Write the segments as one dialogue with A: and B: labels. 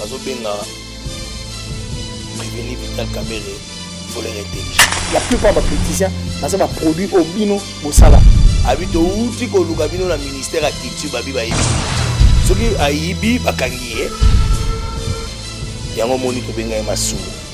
A: bazobenga revenu vital kabele voleur intelligent la plupart bapoliticien
B: baza baproduit oyo bino bosala abi touti
A: koluka bino na ministère ya culture babi bayebi soki ayibi bakangi ye yango omoni tobenga ye masumu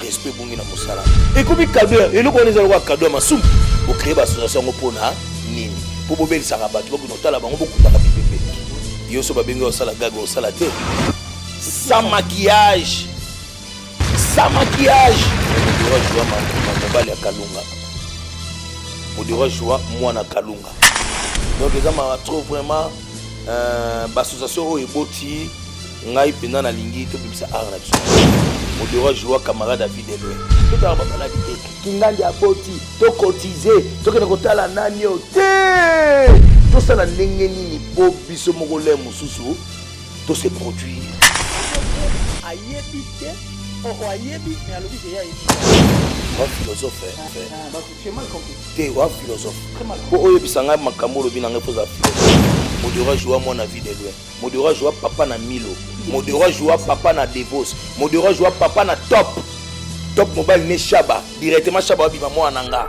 A: respect ebongi na mosala ekomi kado ya eloko wana eza lokola kado ya masumu bocree baassociation yango mpo na nini mpo bobelisaka bato bakona otala bango bokutaka bipepe yo so babengi osala gaga osala te sans maquillage sans maquillage modero joa mobali ya kalunga modero joa mwana kalunga donc eza ma trop vraiment euh, baassociation oyo eboti ngai mpenza nalingi tobimisa art na biso modero ajoua camarade ya vie de loin totala bamaladi te kingandi aboti tokotize tokende kotala nani o te tosala ndenge nini mpo biso moko le mosusu tose produire ayebi
B: te oh, ayebi me alobi ke ye ayebi wa
A: philosophe ah,
B: te wa philosophe
A: mpo oyebisa
B: ngai makambo
A: olobi na ngai mpo oza philosophe modero ajoua mwana vie de loin Modero ajua papa na Milo, Modero ajua papa na Devos, Modero ajua papa na Top. Top mobile ne Shaba, directement Shaba abima mwana na nga.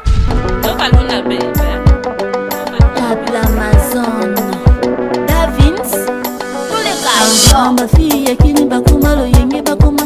A: Tokalona
C: bebe.
D: Amazon Davins Tous les gars Ensemble fille yakini bakoma loyenge bakoma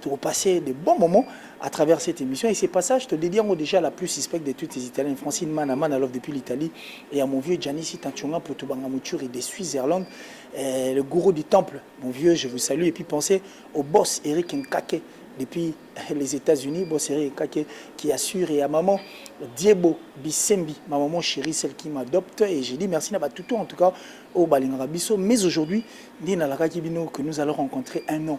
B: Toko passer de bons moments à travers cette emission et ce passage to dedie yango dejà à la plus suspecte de toutes les italiennes Francine Mana Mana Love depuis l'Italie et à mon vieux Gianni Sita Nchonga Mputu Banga Mutshuri de Switzerland euh, le gourou du temple mon vieux je vous salue et puis pensez au boss Eric Nkake depuis euh, les États-Unis boss Eric Nkake qui assure et à maman Diebo Bisembi ma maman chérie celle qui m'adopte et j'ai dit merci na batutu en tout cas au Balingaka biso mais aujourd'hui ndi nalakaki bino que nous allons rencontrer un nom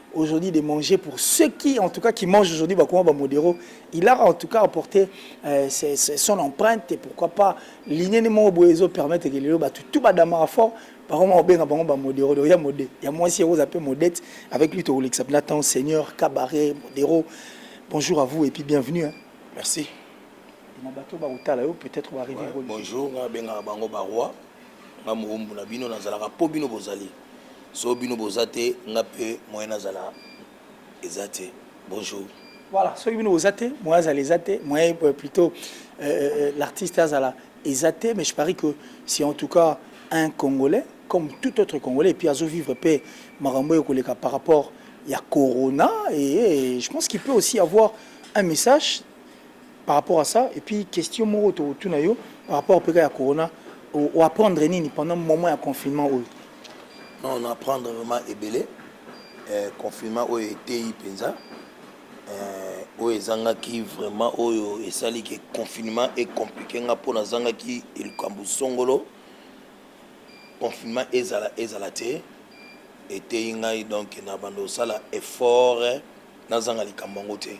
B: aujourd'hui de manger pour ceux qui en tout cas qui mangent aujourd'hui bakoma ba modero il a en tout cas apporté euh, ses, ses, son empreinte et pourquoi pas lignée moko boye ezo permettre que lelo bato tout badamaka fort bakoma kobenga bango ba modero donc ya mode ya mwasi yango oza mpe modete avec lui tokolekisa mpena temps seigneur cabaret modero bonjour à vous et puis bienvenue hein. merci
A: na bato bakotala yo
B: peut-être baarrive bonjour nga bengaka
A: bango baroi nga moumbu na bino nazalaka mpo bino bozali soki bino boza te nga pe moyen nazala eza te bonjour. Voilà soki bino
B: boza te moyen azala eza te moyen euh, plutôt euh, euh, euh, l'artiste azala eza te mais je parie que c'est en tout cas un congolais comme tout autre congolais et puis azo vivre pe makambo oyo koleka par rapport ya corona et, et je pense qu'il peut aussi avoir un message par rapport à ça et puis question moko to tuna yo par rapport peka ya corona o apprendre nini pendant moment ya confinement oyo non
A: on apprendre vraiment ebele euh, confinement oyo eteyi mpenza euh, oyo ezangaki vraiment oyo esali ke confinement ecomplike nga mpo nazangaki likambo songolo confinement ezala ezala te eteyi ngai donc na bando osala effort nazanga likambo yango te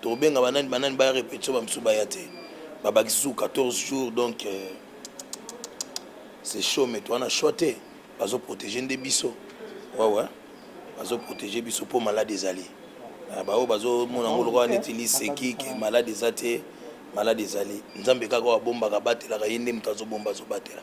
A: Tokobenga ba nani ba nani baya repetition ba misusu baya te ba bakisi susu 14 jours donc c'est chaud mais toza na choix te bazo proteger nde biso ouais ouais bazo proteger biso po malade ezali ah, ba oyo bazo mona ngo lokola neti liseki ke malade eza te malade ezali nzambe kaka oyo abombaka abatelaka ye nde moto azo bomba azo batela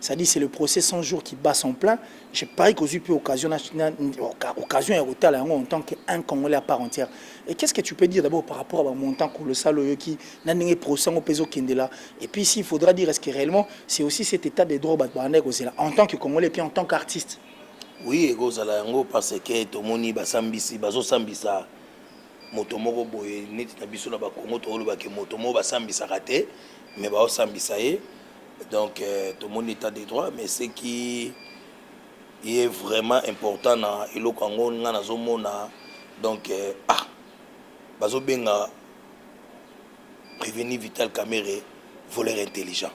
B: Ça dit c'est le procès 100 jours qui bat son plein. Je parie qu'aux UP occasion, occasion ya kotala yango en tant qu'un Congolais à part entière. Et qu'est-ce que tu peux dire d'abord par rapport à montant colossal oyoki na ndenge procès yango pezo kendela et puis s'il faudra dire est-ce que réellement c'est aussi cet état de droit bat banda kozela en tant que Congolais et puis en tant qu'artiste. Oui,
A: ekozala yango parce que tomoni basambisi bazosambisa moto moko boye neti na biso na bakongo toolobake moto moko basambisaka te mais baosambisa ye donc euh, tomoni état de droit mais ce qui est vraiment important na eloko yango ngai nazomona donc euh, ah bazobenga prévenu vital camere voleur intelligent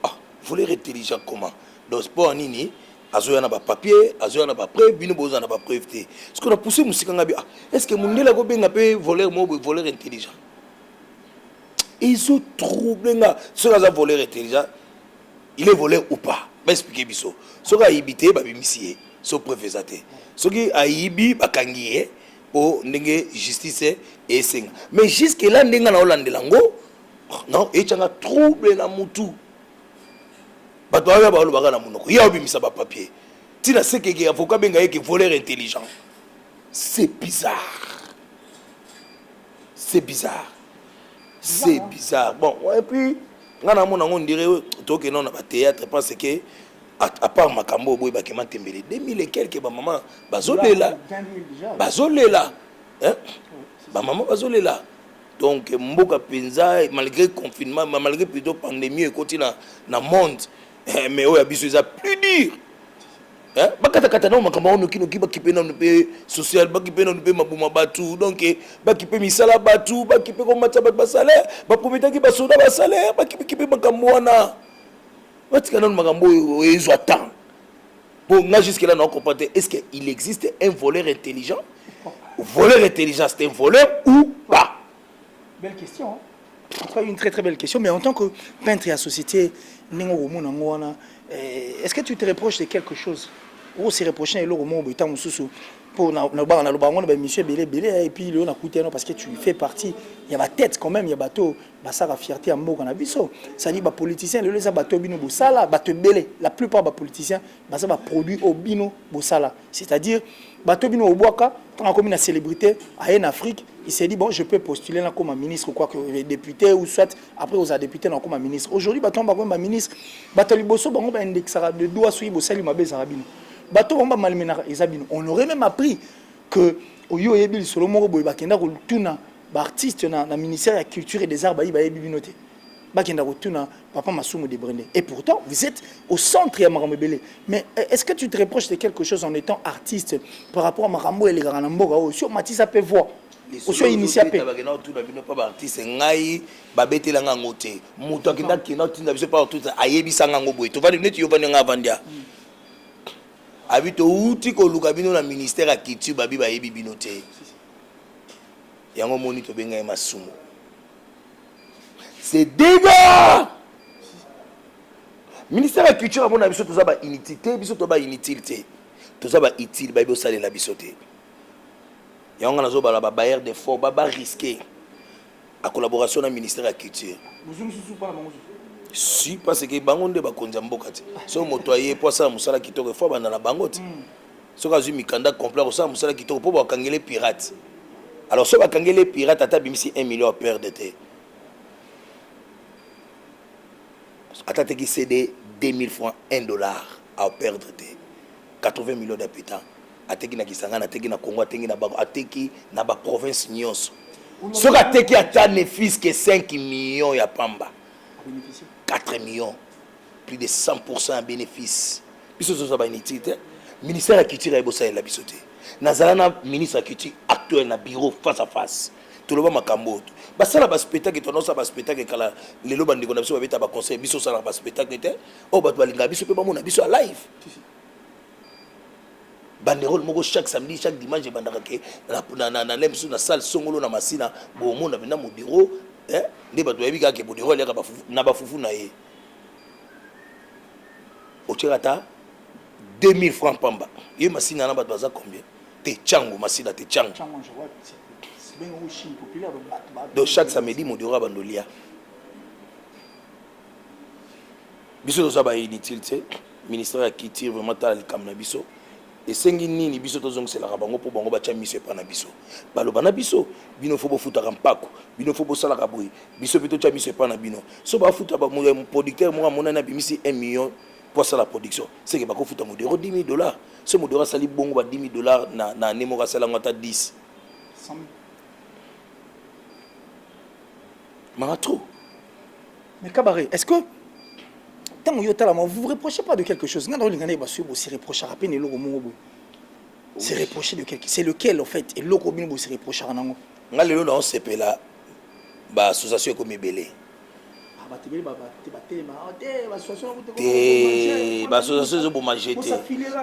A: ah voleur intelligent comment donc sport nini azoya na bapapier azoya na bapreuve bino boza na bapreuve te soki na pousse mosika ngai bi ah est ce que mondele akobenga mpe voleur moko boye voleur intelligent ezo trouble nga soki aza voleur intelligent il est voleur ou pas ba expliquer biso soki ayibi te babimisi ye so preuve eza te soki ayibi bakangi ye po ndenge justice esenga mais jusque là ndenge na olandela yango oh, non etyanga trouble na mutu bato baoya balobaka na monoko ye aobimisa bapapier ntina sekeke avoka abenga ye ke voleur intelligent c'est bizarre c'est bizarre c'est bizarre bon et puis nga na mona ngo ndire toke non na ba théâtre parce que à part makambo boye ba kema tembele 2000 et quelques ba maman bazolela bazolela hein ba maman bazolela donc mboka penza malgré confinement malgré plutôt pandémie ekoti na na monde Eh, mais oyo ya biso eza plus dur eh, bakatakata nao makambo yango nokinoki bakipe nanu mpe social bakipe nanu mpe maboma bato donc eh, bakipe misala bato bakipe komatisa bato basalaire baprometaki basoda basalaire bakipekipe makambo wana batika nanu makambo oyo ezwa temps mpo nga jusque là nao comprendre te est ce que il existe un voleur intelligent voleur intelligent c'est un voleur ou pas Belle question.
B: En tout cas, une très très belle question. Mais en tant que peintre et à société, eh, est-ce que tu te reproches de quelque chose Ou se reprocher et l'eau au étant sous pour na na ba na le bango na ba monsieur belé belé eh, et puis le na coûté non parce que tu fais partie il y a ma tête quand même il y a bateau ba ça la fierté en mboka na biso ça dit ba politicien le les bateau bino bosala bateau belé la plupart ba politiciens ba ça ba produit au bino bosala C'est-à-dire, bateau bino obwaka, tant comme une célébrité, à en Afrique, il s'est dit, bon, je peux postuler là comme ministre, quoi que euh, député, ou soit, après, aux députés, là comme ministre. Aujourd'hui, bateau en comme ministre, bateau liboso, bango, ba indexera de doigts, soyi, bo sali, ma belle, zarabino. Bateau en malmenara, ezabino. On aurait même appris que, au yo, yebi, le solo, moro, boy, bakenda, ko, tuna, ba artiste, na, na ministère de la culture et des arts, bayi, bayi, bibinote. bakenda kotuna papa masumu de brende et pourtant vous êtes au centre ya makambo ebele mais euh, est ce que tu te reproches de quelque chose en étant artiste par rapport à makambo elekaka na mboka oyo si omatisa mpe voix osio initia mpe bakenda kotuna bino mpa
A: baartiste ngai babetela nga yango te moto akenda akenda kotinda biso mpa baartiste ayebisa nga yango boye tovandi neti yo vandi nga avandi a mm. abi touti koluka bino na ministère ya culture babi bayebi bino te yango omoni tobengai masumu c'est dega ministère ya culture amona biso toza ba inutile te biso toza ba inutile te toza ba utile bayebi osalela biso te yango nga nazobala babayer de fort babarisque a collaboration na ministère ya culture si parce que bango nde bakonzi ya mboka te soki moto aye mpo asala mosala kitoko efo abanda na bango te hmm. soki azui mikanda complet akosala musala kitoko po bakangele pirate alors soki bakangele pirate ata abimisi 1 million aperde te ata teki cd 2000 francs 1 dollar aperdre te 80 millions d'habitants ateki na kisangani ateki na congo ateki na bango ateki na baprovince nyonso soki ateki ata ne fils que 5 millions ya pamba 4 millions plus de 100 pourcent ya benefice biso tozwa ba inutile te ministère ya culture aye bosalela biso te nazala na ministre ya culture actuel na bureau face à face toloba makambo oyo basala baspectacle to anonsa baspectacle kala lelo bandeko na biso babeta baconseil biso osalaka baspectacle te oyo bato balingaka biso mpe bamona biso ya live banderole moko chaque samedi chaque dimanche ebandaka ke na le mosusu na salle songolo na masina bomona mpena modiro nde bato bayebi kaka ke modiro aliaka na bafufu na ye otyaka ata 2000 francs pamba ye masina na bato baza combien te chango masina te chango donc chaque samedi modora bando lia biso toza ba inutile te ministère ya culture vraiment tala likambo na biso Esengi nini biso tozongiselaka bango mpo bango batya miso epai na biso? Baloba na biso, Bino fo bofutaka mpako, bino fo bosalaka boye, biso mpe totya miso epai na bino. Soki bafuta producteur moko amonani abimisi un million mpo asala production, seke bakofuta Modero 10.000 dollars? Soki Modero asali bongo ba 10.000 dollars na annee moko, asali yango ata 10, Mawa trop!
B: Mais Kabare, est-ce que tango yo tala vous vous reprochez pas de quelque chose nga naolinga naye basuye bosi reprochaka mpe na eloko moko boye se reprocher de quelque c'est lequel en fait eloko bino bosi reprochaka nango nga lelo naosepela
A: baassociation ekomi ebele te baassociation ezoboma je te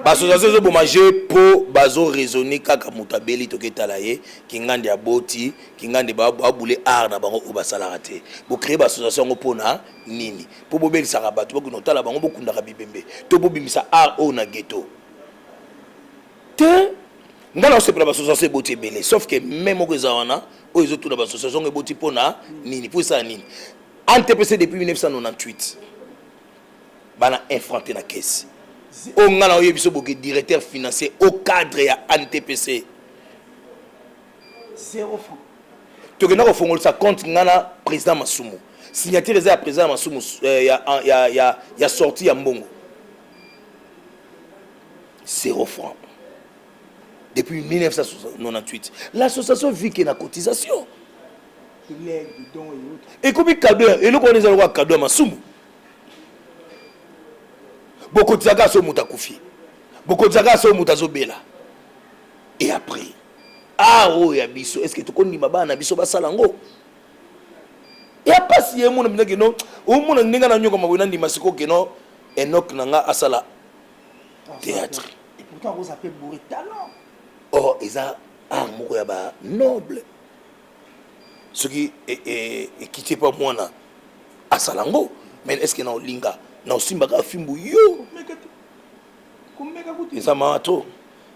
A: baassociation ezoboma je mpo bazoraisonne kaka moto abeli toketala ye kingandi aboti kingandi ba ba boule art na bango oyo basalaka te bo créer ba association yango pona nini po bobelisaka bato bokino otala bango bokundaka bibembe to bobimisa art oyo na ghetto te nga na osepela ba association eboti ebele sauf que me moko eza wana oyo ezotuna ba association yango eboti pona nini po esala nini antpc depuis 1998 bana infrante na kesi oyo nga na oyebiso boke directeur financier au cadre ya antpc
B: zero franc tokenda
A: kofongolisa compte nga na president masumu signature eza ya president ya masumu eh, ya, ah, ya, ya, ya sorti ya mbongo zero franc depuis 1998 l'association vit ke na cotisation ekomi kado eloko wana eza lokola kado ya masumu bokotisaka so moto akufi bokotisaka so moto azobela et après art ah, oyo ya biso est ce que tokondima bana na biso basala yango ya mpasi ye mona mpenza keno omona ndenge na nyokama boye nandima siko keno enok na nga asala théâtre
B: or oh, eza
A: art moko ya ba noble soki e, e, ekiti epa mwana asala yango mais est ce que na olinga na osimbaka fimbu yo eza maa trop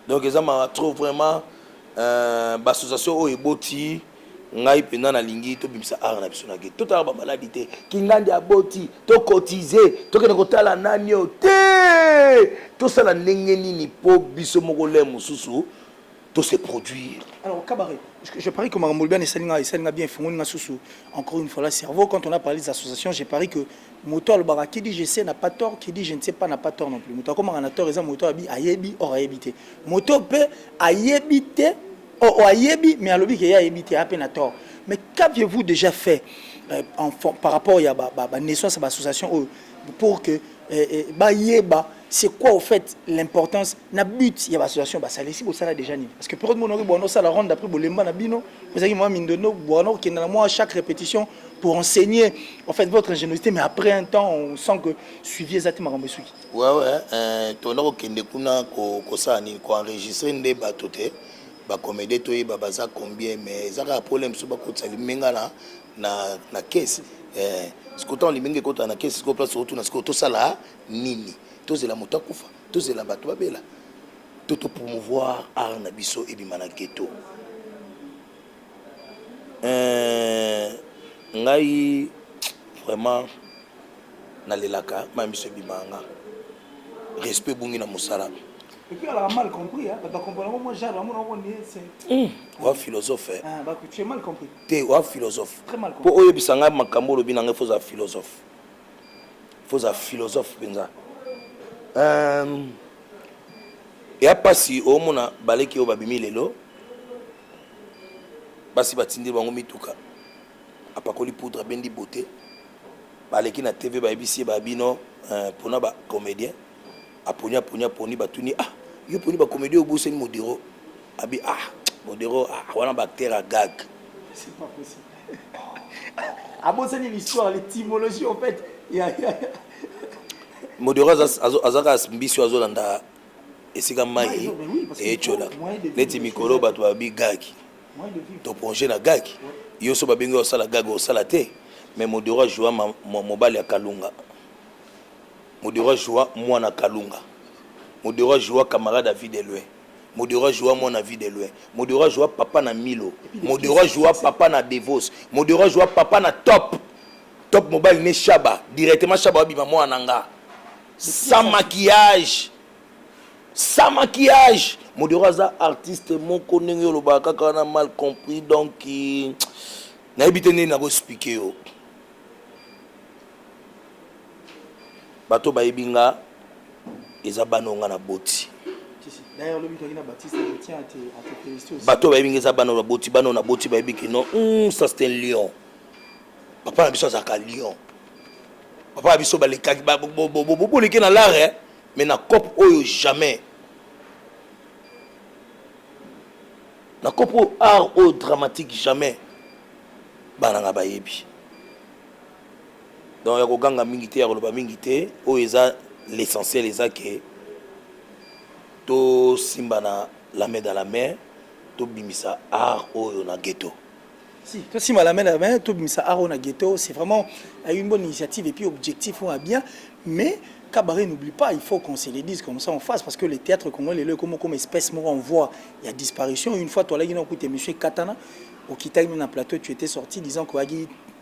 A: Donc eza mawa trop vraiment euh, ba association oyo eboti ngai mpenza nalingi tobimisa art na biso na gete totala bamaladi te kingandi aboti tokotize tokende kotala nani oyo te tosala ndenge nini mpo biso moko le mosusu tose produire alors kabare
B: je parie que makambo olobia na esali nga esali nga bien efungoli nga susu encore une fois la cerveau quand on a parlé des associations je parie que moto alobaka qui dit je sais n'a pas tort qui dit je ne sais pas n'a pas tort non plus moto akomaka na tort eza moto abi ayebi or ayebi te moto mpe ayebi te oh, oh, ayebi mais alobi ke ye ayebi te ape na tort mais qu'avez-vous déjà fait euh, en, par rapport ya ba, ba, ba naissance ya ba association oyo pour que euh, euh, bayeba C'est quoi au fait l'importance na but ya association basali si bosala déjà nini parce que période mona oki bwana osala ronde après bolemba na bino ozalaki mwa mindondo bwana okenda na mwa chaque répétition pour enseigner en fait votre ingéniosité mais après un temps on sent que suivi eza te makambo esuki ouais ouais euh,
A: tona kokende kuna kosala ko nini koenregistre nde bato te bacomédie toyeba baza combien mais eza kaka problème so bakotisa limenga na, na, na kesi eh, sikoyo ntango limenga ekotana na kesi sikoyo place otuna sikoyo tosala nini tozela moto akufa tozela bato babela to to promouvoir art na biso ebima na ghetto euh, ngai vraiment nalelaka ma miso ebimaka nga respect ebungi na mosala
B: wa philosophe
A: eh? ah,
B: te wa philosophe
A: mpo oyebisa
B: ngai makambo
A: olobi na ngai fo oza philosophe faut za philosophe penza euh ya pasi omona baleki oyo babimi lelo basi batindi bango mituka apakoli poudre abendi beauté baleki na tv bayebisi ye babino euh, mpona bacomédien aponi aponi aponi batuni ah yo poni bacomédien obosani modiro Abi ah modero ah wana ba acteur à gag. C'est pas
B: possible. abosani l'histoire l'étymologie en fait ya ya
A: modero azaka mbisi azolanda esika mai ecola neti mikolo bato babi gaki toponge na gaki yo so babengi osala gaki osala te mais modero ajua mobali ya kalunga modero ajua mwana kalunga modero ajua camarade ya vie de loin Modero ajua mwana vie de loin Modero ajua papa na Milo Modero ajua papa na Devos Modero ajua papa na Top Top mobali ne Shaba directement Shaba abima mwana na nga sans maquillage sans maquillage Modero aza artiste moko ndenge olobaka kaka wana mal compris donc nayebi te ndenge nako expliquer yo Bato oyo bayebi nga eza bana oyo nga na boti.
B: Bato oyo bayebi nga eza bana oyo naboti,
A: bana oyo naboti bayebi que non, hmm, ça c'est un lion. Papa na biso azalaka lion. Papa na biso balekaki boleke na lare eh? mais na cope oyo jamais. Na cope oyo art oyo dramatique jamais. Bana nga bayebi. Donc ya ko ganga mingi te ya ko loba mingi te oyo eza l'essentiel eza ke to simbana la main dans la main to bimisa art oyo na ghetto. Si, to
B: sima la main dans la main to bimisa art oyo na ghetto c'est vraiment une bonne initiative et puis objectif oyo bien mais Cabaret n'oublie pas, il faut qu'on se le dise comme ça en face, parce que le théâtre congolais, le comme, comme espèce, moi, on voit, il y a disparition. Une fois, toi, là, il y a un monsieur Katana, au Kitaï, dans plateau, tu étais sorti disant qu'il y a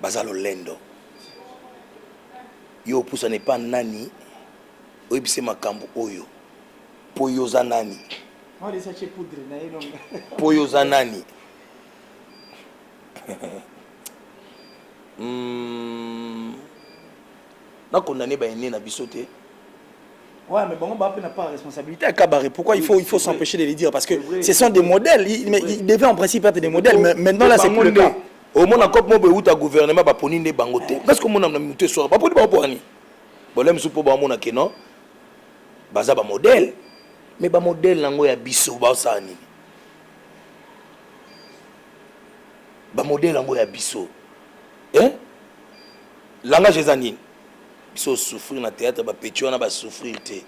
A: baza lolendo yo opusana epa nani oyebise makambo oyo mpo yo oza nani mpo yo oza nani hmm. Na condamne ba aines na biso te.
B: Ouais mais bango ba pe na part ya responsabilite ya kabare pourquoi il faut il faut s'empecher de le dire parce que ce sont des modèles mais ils devaient en principe être des modèles mais maintenant là c'est plus le cas omona
A: cope mobo euta gouvernement baponi nde bango te parce que omona na moto esora baponi bango poani bolem su mpo bamona ke non baza bamodele me bamodele na yango ya biso baosala nini bamodele yango ya biso eh? Langage eza nini? Biso souffrir na theatre ba petit wana ba souffrir te.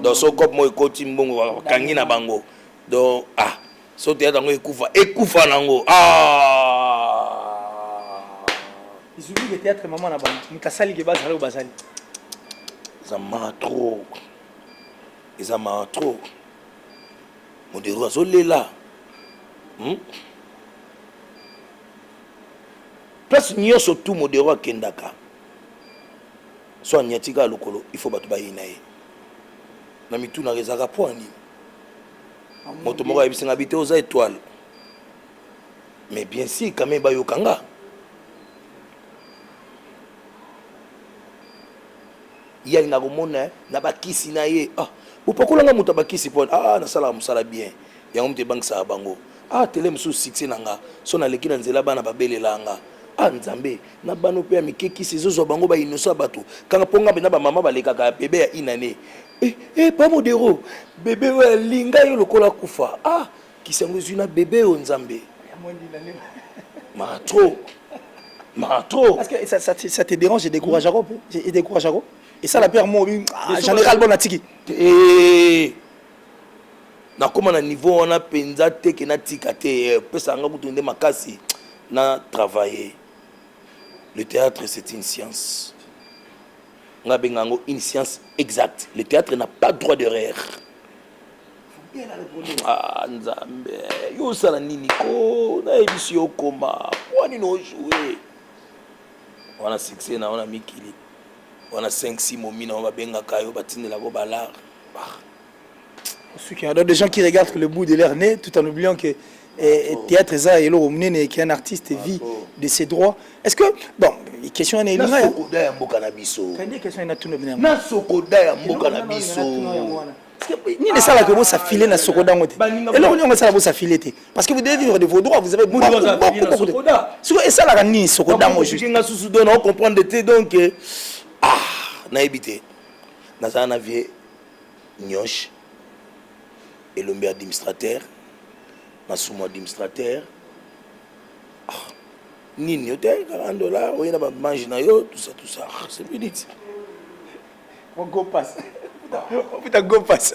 A: Donc so cop moi koti mbongo kangi na bango. Donc ah so theatre ngo ekufa ekufa nango. Ah
B: Zulu ke theatre maman na bango. Mukasali ke bazali ou bazali.
A: Eza ma trop. Eza ma trop. Modero azolela. Hmm? Place nioso tout modero akendaka soit anyati kaka lokolo il faut batu bayina ye na mitunaka ezalaka pona nini moto moko ayebisi nga bite oza etoile mais bien si kame bayoka nga ye alinga komona na bakisi na ye ah bopakolanga moto ya bakisi pona ah nasalaka mosala bien yango moto ebangisaka bango ah tele mosusu succès na nga so naleki na nzela bana babelelaa nga ah nzambe na bana oyo mpe ya mike kisi ezozwa bango ba innocent bato kanga mpo nga mpenza bamama balekaka ya bebe ya inane eh, eh, pa modero bebe oyo alinga yo lokola kufa ah kisi yango ezwi na bebe oyo nzambe matro matro
B: Parce que ça, ça, te- ça te dérange et décourage encore. Et décourage encore. Et ça, la pierre, moi, oui, ah, j'en ai ras le bon, la tiki. Eh,
A: Nakoma na niveau wana penza te que natika te eh, opesaka nga kutu nde makasi na travailler. Le theatre c'est une science. Nga benga yango une science exacte. Le theatre n'a pas droit d'erreur. Ah, nzambe yo osala nini ko nayebisi yo okoma mpo nini ojoue wana succès na wana mikili wana 5 simomi na yo babengaka yo batindelaka yo balare suki
B: alors des gens qui regardent que le bout de leur nez tout en oubliant que eh, eh théâtre eza eloko monene et qu'un artiste vit de ses droits est ce que bon question wana elinga ya sokoda ya mboka
A: na biso kandi question ena tuno bina
B: na sokoda ya
A: mboka na biso
B: nini esalaka bo ça filer na sokoda yango te eloko niongo esala bo ça filer te parce que vous devez vivre de vos droits vous avez beaucoup beaucoup beaucoup siko esalaka nini sokoda yango juste nga susu dona o comprendre
A: te donc eh, ah nayebi te Nazala na vie niosh elombe ya admnistrateur masumu admnistrateur ah nini oteyaki 40 dollars oye na ba mange na yo tout ça tout ça ah, c'est minute
B: go pass puta go pass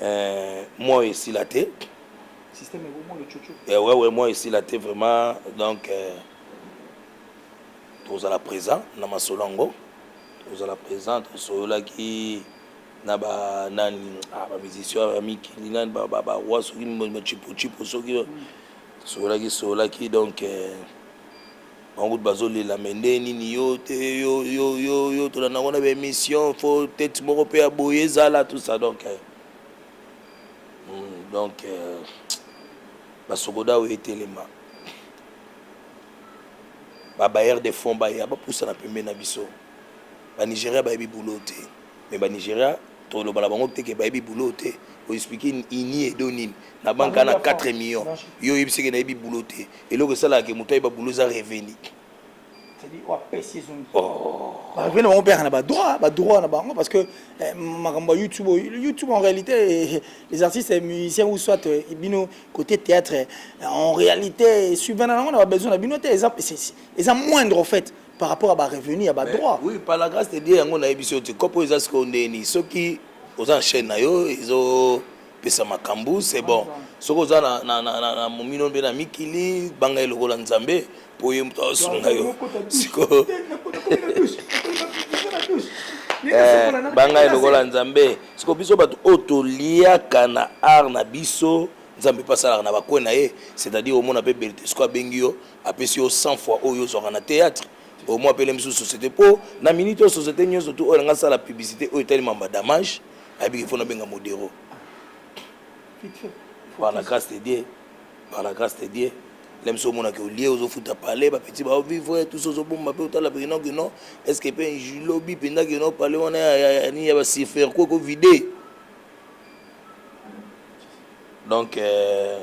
A: Eh, moi esila te. Système ebo
B: moi le chocho. Eh ouais ouais moi esila
A: te vraiment donc eh, tozala présent na masolo yango tozala présent tosololaki na ba nani ah, ba musicien ya mikili nani ba ba ba wa soki chipo chipo soki tosololaki sololaki donc eh, Bango kutu bazo lela mais ndenge nini yo te yo yo yo yo tolanda ngo na ba emission faut tete moko pe ya boye ezala tout ça donc eh. Hmm, donc euh, basokoda oyo etelema babayere de fond baya bapusana pembeni na biso banigeria bayebi boulot te mais ba Nigeria toloba na bango te ke bayebi boulot te o explique ini edo nini na banque Bango na 4 millions yo oyebisi ke nayebi boulot te eloko esalaka ke moto ayeba boulot eza revenu
B: barevenir bango mpe yaka na badroit badroit na bango parce que eh, makambo ya youtube youtube en réalité eh, eh, les artistes musiciens ou soit bino côté théâtre en réalité suivana nango na babesoin na bino te eza moindre en fait par rapport ya barevenu ya badroit oui par la grâce de dieu
A: yango nayebi so te kopo eza sikoyo ndeni soki oza na chaîne na yo ezopesa makambo c'est bon soki oza na momino mpe na mikili banga ye lokola nzambe mpo ye moto asunga yo sikoyo eh, banga ye lokola nzambe sikoyo biso bato oyo toliaka na art na biso nzambe mpe asalaka na bakwe na ye c'est-à-dire omona mpe bertesco abengi yo Apesi yo 100 fois oyo ozwaka na theatre au moins apelemi sous société po na minute oyo société nioso tout oyo alinga sala publicité oyo etali mamba damage ayebi ke faut na benga modero par la grâce de Dieu par la grâce de Dieu lem so mona ke olie ozo futa palais ba petit ba vivre tout ozo bomba pe otala pe non que non est-ce que pe lobi penda que non palais wana ya ni ya ba sifer ko ko vider donc euh,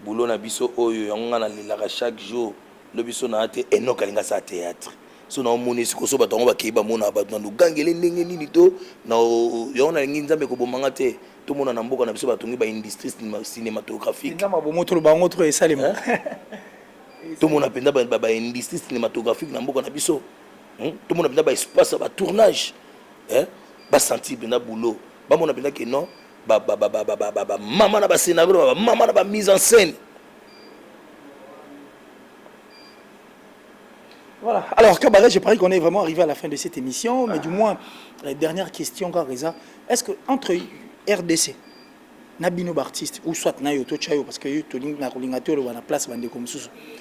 A: boulot na biso oyo yango nga na lelaka chaque jour lobi so na te Enock alingi asala theatre so na omoni siko so bato yango bakei bamona bato na lugangele ndenge nini to na yango nalingi nzambe koboma nga te tomona na mboka na biso batongi ba industrie cinématographique nzambe abomo toloba
B: yango tro esalema
A: tomona mpenza ba industrie cinématographique na mboka na biso hmm? tomona mpenza ba espace ya ba tournage basentir mpenza boulot bamona mpenza ke non ba ba ba ba ba ba ba mama na ba scenario na ba mama na ba mise en scène
B: Voilà. Alors, Cabaret, je parie qu'on est vraiment arrivé à la fin de cette émission, mais du moins, euh, dernière question, Gareza. Est-ce que entre RDC, Nabino Bartiste, ou soit Nayo Tochayo, parce que tu as la place,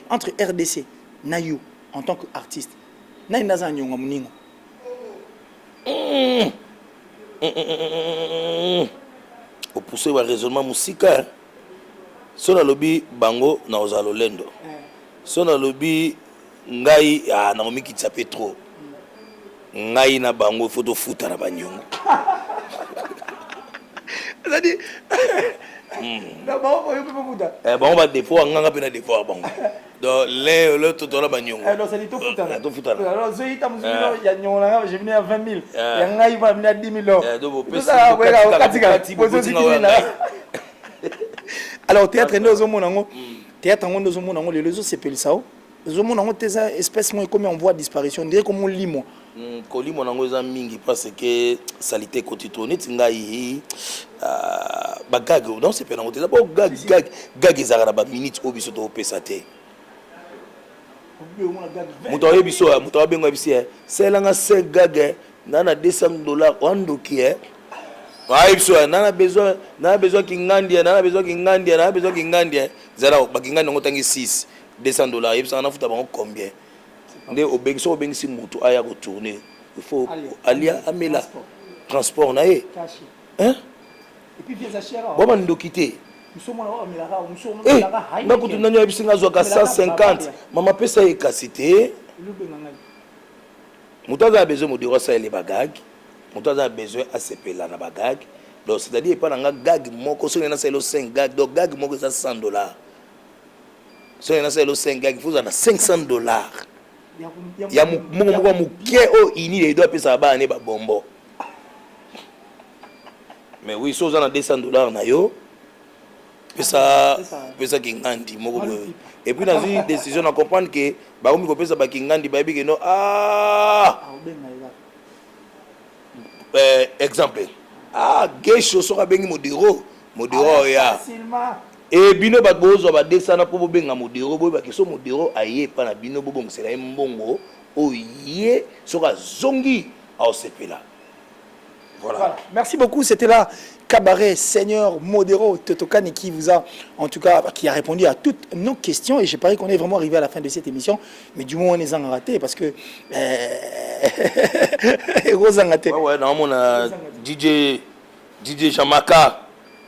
B: entre RDC, Nayo, en tant qu'artiste, Nayo Nazan Yonga Mouninga, Mmh.
A: Mmh. Opousse ba raisonnement musika. So nalobi bango na ozala lolendo. So nalobi ngai ah, na omikitisa pe trop. Ngai na bango faut tofuta na banyongo.
B: Ezali hmm. na bango oyo pe bafuta. Eh bango ba dépôt anganga
A: pe na dépôt bango. Donc leo leo to tola banyongo. Eh, c'est tout futana. Tout
B: futana. Alors zo
A: ita musu no
B: ya nyongo na je venais à 20000. Ya ngai ba mina 10000 euros. Eh do bo pesa. Ça ko
A: ka
B: katika. Pozo zikini na. Alors théâtre ndio zo mona ngo. Théâtre ngo ndio zo mona ngo lelo zo sepelisa o. Zo mona ngo teza espèce mo ekomi en voie de disparition. Ndire ko mo limo. Kolimo nango
A: eza mingi parce que salite ekoti trop neti ngai hii ah, ba gag donc c'est pena ngote eza bo gag gag gag ezaka na ba minutes oyo biso to pesa te moto ayebi biso eh, moto abenga bisi eh, selanga 5 gag eh, na na 200 dollars wandoki eh ayebi biso eh, na na besoin na na besoin kingandia na na besoin kingandia na na besoin kingandia zala ba kingandia ngo tangi 6 200 dollars yebisa na futa bango combien nde obengi soki obengisi motu aya ko tourne il faut alia amela transport na ye
B: bwa bandoki te
A: eh,
B: nga kutu nani ayebisi nga
A: azwaka 150 mama pesa ye kasi te moto aza na besoin modero asalele bagage moto aza na besoin asepela na bagage donc c'est-à-dire epai na nga gage moko soki nani asalelo 5 gage donc gage moko eza 100 dollars soki nasala elo 5 gag fozala na 500 dollars ya moko moko moke oyo ini edo apesaka bana ne babombo mais oui so oza na 200 dollars na yo pesa pesa kingandi moko boye et puis nazwi décision na comprendre ke bakomi kopesa bakingandi bayebi ke no ah! euh, exemple ah gesho soki abengi modiro modiro ah, oya Ee bino bato bozwa badesana mpo bobenga modero, boyeba ke soki modero aye epai na bino, bobongisela ye mbongo oyo ye soki azongi akosepela. Voilà. Voilà. Merci beaucoup,
B: c'etait là Cabaret Seigneur Modero Totokani qui vous a, en tout cas, qui a répondu à toutes nos questions. Et je parie qu'on est vraiment arrivé à la fin de cette émission. Mais du moins, on est en raté parce que.
A: Rosangate. Ouais, ouais, normalement, on a DJ, DJ Jamaka.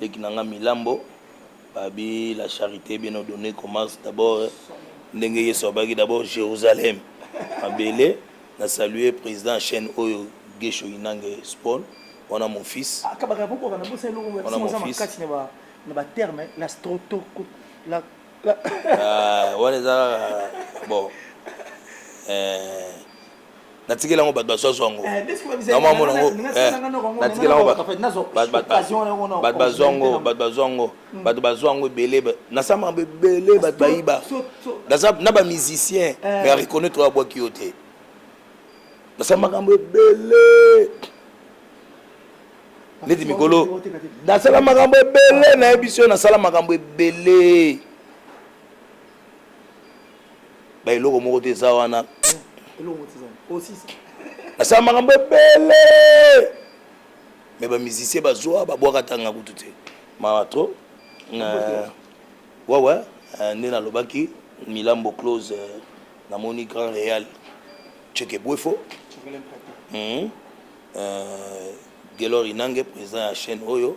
A: Leki na nga Milambo abi la charite bien ordonnee commence d'abord ndenge Yesu abaki d'abord Jerusalem mabele na saluer president ya chaine oyo Gesho Inange Spawn wana mon fils akabaka boko bana bosa eloko
B: ya wana mon sima fils makasi na ba na ba terme la strotoko la Ah,
A: wana eza kaka bon eh, natikeli yango bato bazwa zwango namo amona yango natikeli yango bato bazwa yango bato bazwa yango bato bazwa yango ebele nasama yango ebele bato bayiba naza na bamusicien mais areconnaitre oyo abwaki yo te nasala makambo ebele neti mikolo nasala makambo ebele nayebi so nasala makambo ebele ba eloko moko te eza wana asala makambo ebele me bamusicien bazwa babwaka tanga kutu te mawa trop euh, wawa euh, nde nalobaki milambo close euh, namoni grand real cheke bwefo hmm. gelor inange président ya chaîne oyo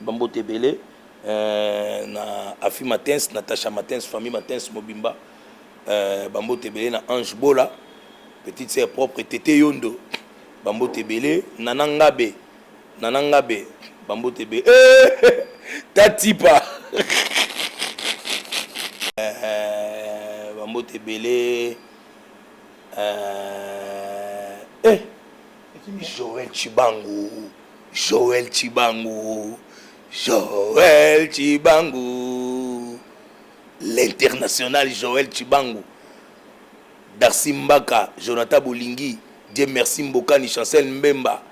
A: Ba mbote ebele euh, na Afi Matens, Natacha Matens, famille Matens mobimba. Euh, ba mbote ebele na Ange Bola, petite sœur propre Tete Yondo. Ba mbote ebele Nana Ngabe, Nana Ngabe, ba mbote ebele. Eh, Tatipa. euh, ba mbote ebele. Euh, eh Joël Chibangu, Joël Chibangu, Joël Chibangu, l'international Joël Chibangu, Darcy Mbaka, Jonathan Bolingi, Dieu merci Mbokani, Chancel Mbemba,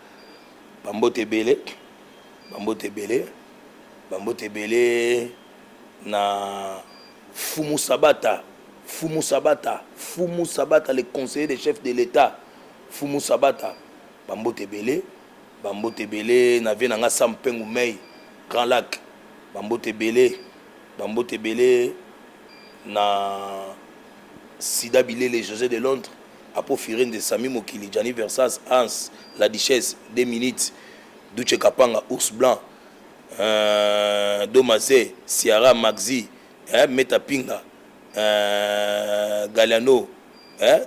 A: bambote ebele, bambote ebele, bambote ebele na Fumu Sabata, Fumu Sabata, Fumu Sabata, le conseiller des chefs de l'État. Mfumu Sabata ba mbote ebele. Ba mbote ebele na vieux na nga Sam Pengu Mey Grand Lac ba mbote ebele. Ba mbote ebele na Sida Bilele Jose de Londres Apo Firenze Samy Mokili Gianni Versace Hans La Duchesse Deux Minutes Doutshe Kapanga Ours Blanc Eeh Doma Ze Ciara Maxi Eeh Meta Pinga Eeh Galiano Eeh.